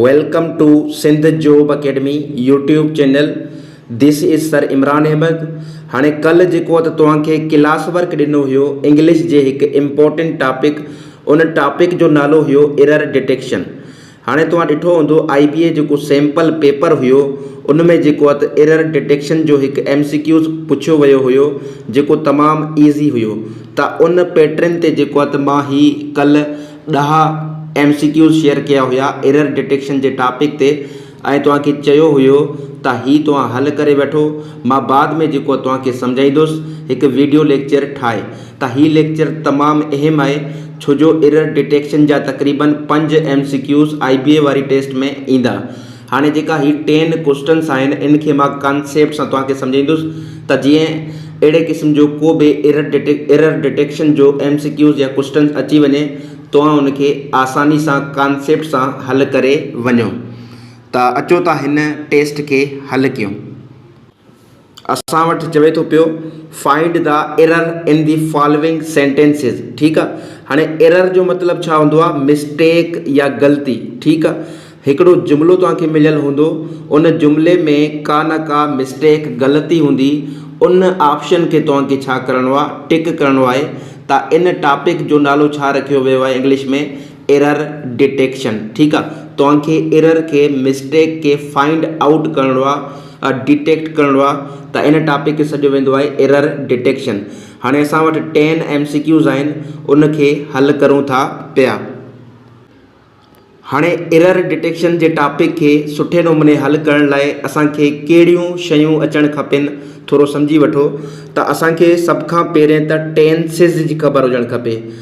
Welcome to Sindh job academy YouTube channel this is sir Imran Ahmed هاڻي ڪل جيڪو ته توهان کي ڪلاس ورڪ ڏنو هيو انگلش جي هڪ امپورٽنٽ ٽاپڪ ان ٽاپڪ جو نالو هيو ايرر ڊيٽيڪشن هاڻي توهان ڏٺو هوندو آئي بي اي جيڪو سيمپل پيپر هيو ان ۾ جيڪو ته ايرر ڊيٽيڪشن جو هڪ ايم سي ڪيوز پڇيو ويو هيو جيڪو تمام ايزي هيو ته ان پيٽرن تي جيڪو ته مان هي ڪل ڏهه ايم سي ڪيوز شيئر ڪيا هيا ايرر ڊيٽيڪشن جي ٽاپڪ تي ۽ توهان کي چيو هيو ته هي توهان حل ڪري وٺو مان بعد ۾ جيڪو توهان کي سمجهائيندس هڪ ويڊيو ليڪچر ٺاهي ته هي ليڪچر تمام اهم آهي ڇو جو ايرر ڊيٽيڪشن جا تقريبن پنج M C Qs I B A واري ٽيسٽ ۾ ايندا هاڻي جيڪا هي ٽين ڪوسٽنس آهن ان کي مان ڪانسيپٽ سان توهان کي سمجهائيندس ته جيئن اهڙي قسم جو ڪو به ايرر ڊٽيڪ ايرر ڊٽيڪشن جو ايم سي ڪيوز يا ڪوسٽنس اچي وڃي توهان ان کي آساني سان ڪانسيپٽ سان حل ڪري وڃو ته اچو ته هن ٽيسٽ کي حل ڪيون. اسان وٽ چوي ٿو پيو find the error in the following sentences ٺيڪ آ هاڻي ايرر جو مطلب ڇا هوندو آ مسٽيڪ يا غلطي ٺيڪ آ هڪڙو جملو توهان کي مليل هوندو ان جملي ۾ ڪا نه ڪا مسٽيڪ غلطي هوندي ان آپشن کي توهان کي ڇا ڪرڻو آ ٽڪ ڪرڻو آهي تا ان ٽاپڪ جو نالو ڇا رکيو ويو آهي انگلش ۾ ايرر ڊيٽيڪشن ٺيڪ آ توهان کي ايرر کي مسٽيڪ کي فائنڊ آئوٽ ڪرڻو آ ڊيٽيڪٽ ڪرڻو آ ته ان ٽاپڪ کي سڏيو ويندو آهي ايرر ڊيٽيڪشن هاڻي اسان وٽ ٽين ايم سي ڪيوز آهن ان کي حل ڪرون ٿا پيا هاڻي ايرر ڊيٽيڪشن جي ٽاپڪ کي سٺي نموني حل ڪرڻ لاء اسان کي ڪهڙيون شيون اچڻ کپين ٿورو سمجهي وٺو ته اسان کي سڀ کان پهرين ته ٽينسز جي خبر هجڻ کپي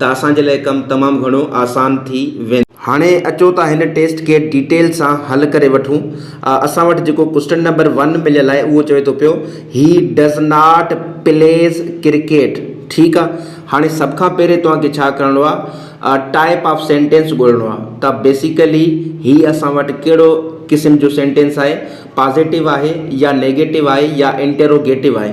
ته اسان جي لاء ڪم تمام گهڻو آسان ٿي ويندو. هاڻي اچو ته هن ٽيسٽ کي ڊيٽيل سان حل ڪري وٺون. اسان وٽ جيڪو ڪوسٽن نمبر ون مليل آهي اهو چوي ٿو پيو he does not plays cricket ٺيڪ آ هاڻي سڀ کان پهرين توهان کي ڇا ڪرڻو آ ٽائپ آف سينٽينس ڳولڻو آ ته بيسيڪلي هي اسان وٽ ڪهڙو قسم جو سينٽينس آهي پازيٽو آهي يا نيگيٽو آهي يا انٽيروگيٽو آهي.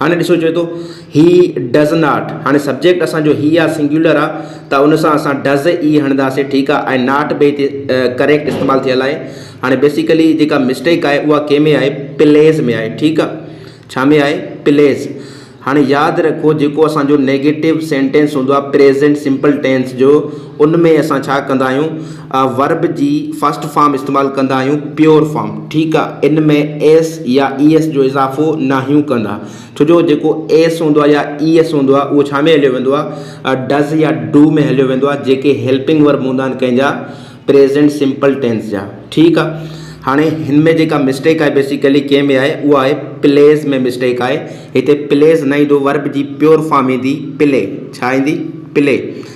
هاڻي ڏسو چوي ٿو هي ڊز ناٽ هاڻي سبجيڪٽ اسان جو هي آ سنگيولر آ ته ان سان اسان ڊز ئي هڻنداسين ٺيڪ آ ۽ ناٽ به هتي ڪريڪٽ استعمال ٿيل آهي هاڻي بيسيڪلي جيڪا مسٽيڪ آهي اها ڪنهن ۾ آهي پليز ۾ آهي ٺيڪ آ ڇا ۾ آهي پليز هاڻي ياد رکو جيڪو اسان جو نيگيٽو سينٽينس هوندو آ پريزينٽ سمپل ٽينس جو ان ۾ اسان ڇا ڪندا آهيون ورب جي فرسٽ فارم استعمال ڪندا آهيون پيور فارم ٺيڪ آ ان ۾ ايس يا اي ايس جو اضافو ناهيون ڪندا ڇو جو جيڪو ايس هوندو آ يا اي ايس هوندو آ اهو ڇا ۾ هليو ويندو آ ڊز يا ڊو ۾ هليو ويندو آ جيڪي هيلپنگ ورب هوندا آهن ڪنهن جا پريزينٽ سمپل ٽينس جا ٺيڪ آ هاڻي هن ۾ جيڪا مسٽيڪ آهي بيسيڪلي ڪنهن ۾ آهي اها آهي پليز ۾ مسٽيڪ آهي هتي پليز نه ايندو ورب جي پيور فارم ايندي پلي ڇا ايندي پلي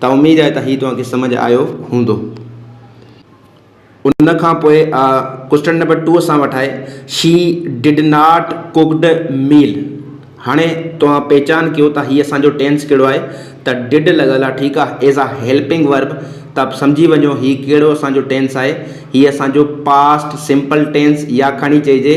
ته اميد آهي ته هي توهان کي سمجهه آيو هوندو. ان کان پوء ڪوئسٽن نمبر ٽو سان وٺائي she did not cooked meal هاڻي توهان پهچان ڪيو ته هي اسان جو ٽينس ڪهڙو آهي ته ڊڊ لڳل آهي ٺيڪ آهي ايز آ هيلپنگ ورب ته سمجهي وڃو هي ڪهڙو اسان جو ٽينس آهي هي اسان جو پاسٽ سمپل ٽينس يا کڻي چئجي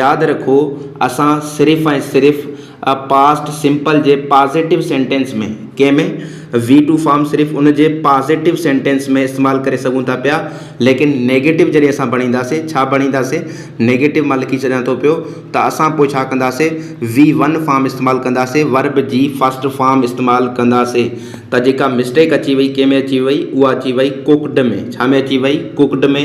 ياد رکو اسان صرف ۽ صرف ا پاسٽ سمپل جي پازيٽو سينٽينس ۾، ڪنهن ۾؟ وي ٽو فارم صرف ان جي پازيٽو سينٽينس ۾ استعمال ڪري سگهون ٿا پيا ليڪن نيگيٽو جڏهن اسان بڻينداسين ڇا بڻينداسين نيگيٽو مان لکي ڇڏيان ٿو پيو ته اسان پوء ڇا ڪنداسين وي ون فارم استعمال ڪنداسين ورب جي فرسٽ فارم استعمال ڪنداسين ته جيڪا مسٽيڪ اچي وئي ڪنهن ۾ اچي وئي اها اچي وئي ڪوڪڊ ۾ ڇا ۾ اچي وئي ڪوڪڊ ۾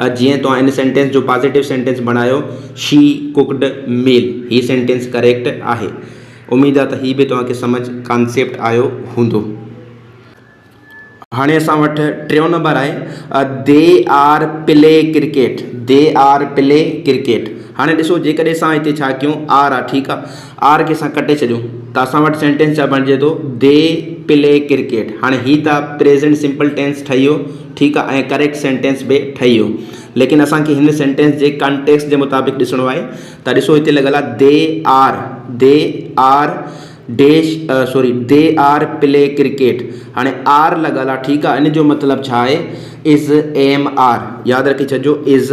ها جيئن توهان ان سينٽينس جو پازيٽو سينٽينس بڻايو شي ڪوڪڊ ميل هي سينٽينس ڪريڪٽ آهي اميد آ ته هي به توهان کي سمجھ ڪانسيپٽ آيو هوندو. هاڻي اسان وٽ ٽيون نمبر آهي they are play cricket they are play cricket هاڻي ڏسو جيڪڏهن اسان هتي ڇا ڪيون آر آ ٺيڪ آ آر کي اسان ڪٽي ڇڏيون ته اسان وٽ سينٽينس ڇا بڻجي ٿو دي پلي ڪرڪيٽ هاڻي هي ته پريزينٽ سمپل ٽينس ٺهي ويو ٺيڪ آ ۽ ڪريڪٽ سينٽينس به ٺهي ويو ليڪن اسان کي هن سينٽينس جي ڪانٽيڪسٽ جي مطابق ڏسڻو آهي ته ڏسو هتي لڳل آ they are they are dash sorry they are play cricket هاڻي آر لڳل آ ٺيڪ آ ان جو مطلب ڇا آهي از ايم آر ياد رکي ڇڏجو از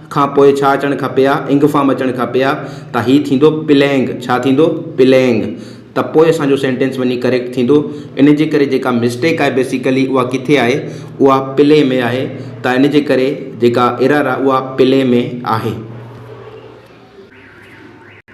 کان پوء ڇا اچڻ کپي ها انگ فارم اچڻ کپي ها ته هي ٿيندو پلينگ ڇا ٿيندو پلينگ ته پوء اسان جو سينٽينس وڃي ڪريڪٽ ٿيندو ان جي ڪري جيڪا مسٽيڪ آهي بيسيڪلي اها ڪٿي آهي اها پلي ۾ آهي ته ان جي ڪري جيڪا ايرر آهي اها پلي ۾ آهي.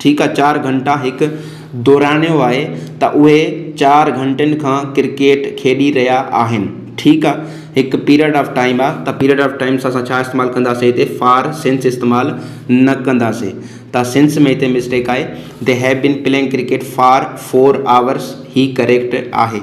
ٺيڪ چار گهنٽا هڪ دورانيو آهي ته اهي چار گهنٽن کان ڪرڪيٽ کيڏي رهيا آهن ٺيڪ آ هڪ پيريڊ آف ٽائيم آ ته پيريڊ آف ٽائيم سان اسان ڇا استعمال ڪنداسين هتي فار سنس استعمال نه ڪنداسين ته سنس ۾ هتي مسٽيڪ آهي they have been playing cricket for four hours هي ڪريڪٽ آهي.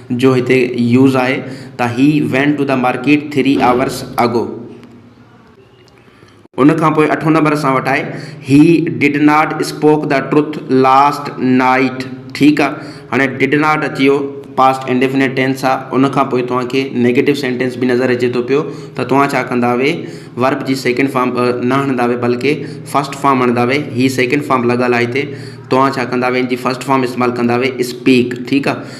جو هتي يوز آهي ته he went to the market three hours ago ان کان پوء اٺون نمبر اسان وٽ آهي he did not spoke the truth last night ٺيڪ آهي هاڻي ڊڊ ناٽ اچي ويو پاسٽ انڊيفنيٽ ٽينس آهي ان کان پوء توهان کي نيگيٽو سينٽينس به نظر اچي ٿو پيو ته توهان ڇا ڪندا وي ورب جي سيڪنڊ فارم نه هڻندا وي بلڪه فسٽ فارم هڻندا وي هي سيڪنڊ فارم لڳل آهي هتي توهان ڇا ڪندا وي ان جي فسٽ فارم استعمال ڪندا وي اسپيڪ ٺيڪ آهي